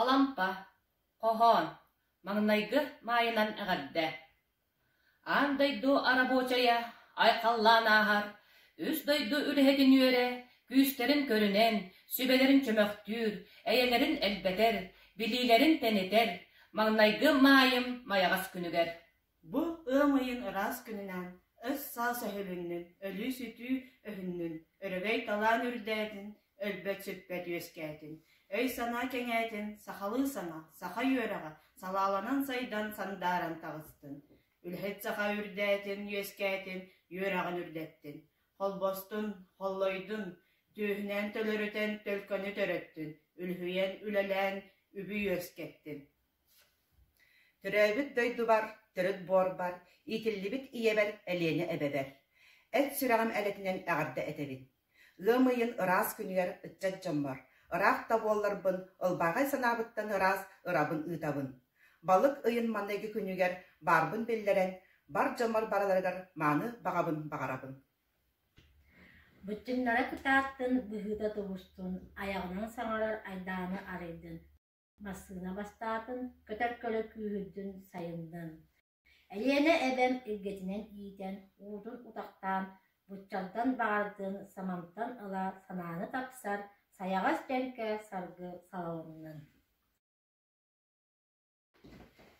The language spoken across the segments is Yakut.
Алампа, хоһоон, маҥнайгы маайынан эҕэрдэ. Аан дойду арабочайа айхаллаан ааһар, үс дойду үлэһитин үөрэ, күүстэрин көрүнэн, сүбэлэрин чөмөхтүүр, эйэлэрин элбэтэр, билиилэрин тэнитэр, маҥнайгы маайым майаҕас күнүгэр. Бу ыам ыйын ыраас күнүнэн, өс-саас өһүлүннүн, өлүү-сүтүү өһүннүн, өрөгөй-талаан үрдээтин, өлбөт-сүппэт үөскээтин, өй-санаа кэҥээтин, сахалыы саҥа, саха үөрэҕэ салааланан сайдан, сандааран таҕыстын, үлэһит саха үрдээтин, үөскээтин, үөрэҕин үрдэттин, холбостун, холлойдун, түөһүнэн төлөрүтэн, төлкөнү төрөттүн, үлүһүйэн, үлэлээн, үбү үөскэттин. Төрөөбүт дойдубар төрүт буорбар, иитиллибит ийэбэр Элиэнэ эбэбэр, эт сүрэҕим элэтинэн эҕэрдэ этэбин. Ыам ыйын ыраас күнүгэр ыччат дьоммор, ыраах да буолларбын, ылбаҕай санаабыттан ыраас ырабын ыытабын. Балык ыйын маныгы күнүгэр баарбын биллэрэн, бар дьоммор барыларыгар мааны баҕабын баҕарабын Быччыҥнара кытаартын, быһыыта тубустун, айаҕынан саҥарар айдааны арыйдын Массыына бастаатын, көтөр көлө күүһүрдүн сайыннын. Элиэнэ эбэм илгэтинэн иитэн, уутун утахтаан, быччантан баҕардын, самантан ыла санааны тапсар, сайаҕас дьэҥкэ саргы салалыннын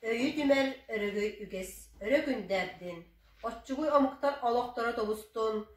Өйү түмэр өрөгөй үгэс өрө күндээрдин, оччугуй омуктар олохторо тобустун,